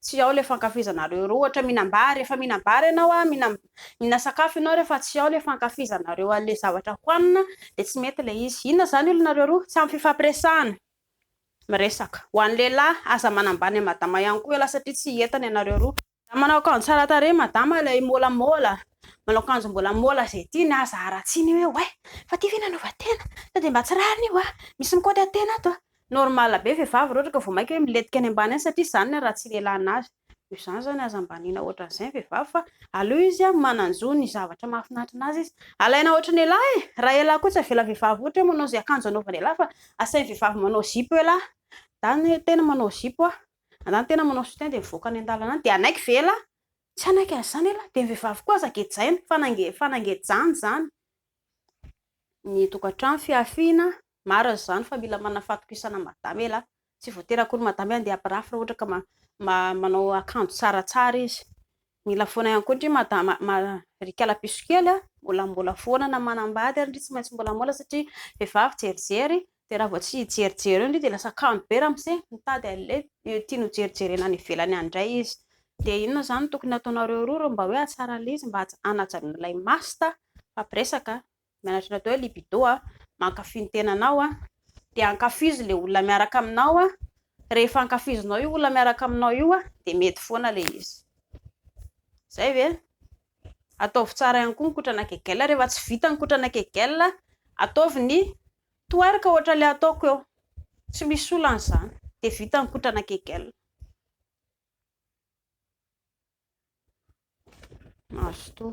Tsy ao le fankafizanareo roa ohatra minambary refa minambary ianao a mina minasakafo ianao refa tsy ao le fankafizanareo anle zavatra hoanina de tsy mety le izy inona zany olonareo roa tsy am fifampiresahana miresaka ho an lehilahy aza manambany an madama ihany koa ialahy satria tsy entana ianareo roa za manao akanjo tsara tarehy madama lay môlamôla manao akanjo mbola môla ze tiany aza aratsiny hoe oay fa ty ve nanova tena sa de mba tsy rariny io a misy mikaoty atena ato a Normal be vehivavy rehetra ka vao maika hoe milentika any ambany any satria zany ny raha tsy lelana azy. Noho izany zany aza ambaniana ohatran'izay ny vehivavy fa aleo izy a manan-jo ny zavatra mahafinaritra anazy izy. Alaina ohatry ny elah e! Raha elah koa tsy avela vehivavy ohatra hoe manao izay akanjo anaovan'ny elah fa asain'ny vehivavy manao zipo elah. Zany hoe tena manao zipo a! Zany tena manao soutien dia mivoaka any an-dalana any dia hanaiky ve elah? Tsy hanaiky an'izany elah! Dia ny vehivavy koa aza gejaina fa na nge fa na ngejany zany ny tokantrano fihafiana Marina izany fa mila manana fahatokisana madama e lah. Tsy voatery akory madama hoe handeha hampirafy raha ohatra ka manao akanjo tsaratsara izy. Mila foana ihany koa ndry madama ry kalapiso kely a, mbola mbola foana na manambady ary ndry tsy maintsy mbola mbola satria vehivavy jerijery dia raha vao tsy hijerijery eo ndry dia lasa kamo be ramose, mitady an'ilay tiany ho jerijerena any ivelany any indray izy. Dia inona izany no tokony hataonareo roa ireo mba hoe hahatsara an'ilay izy mba hanajanona ilay masta? Mifampiresaka a! Mianatra ny atao hoe libido a, mankafy ny tenanao a, dia ankafizo ilay olona miaraka aminao a, rehefa ankafizinao io olona miaraka aminao io a, dia mety foana ilay izy. Zay ve? Ataovy tsara ihany koa ny kotrana kegel, rehefa tsy vita ny kotrana kegel, ataovy ny twerk ohatra ilay ataoko eo, tsy misy olana izany, dia vita ny kotrana kegel. Mazotoa.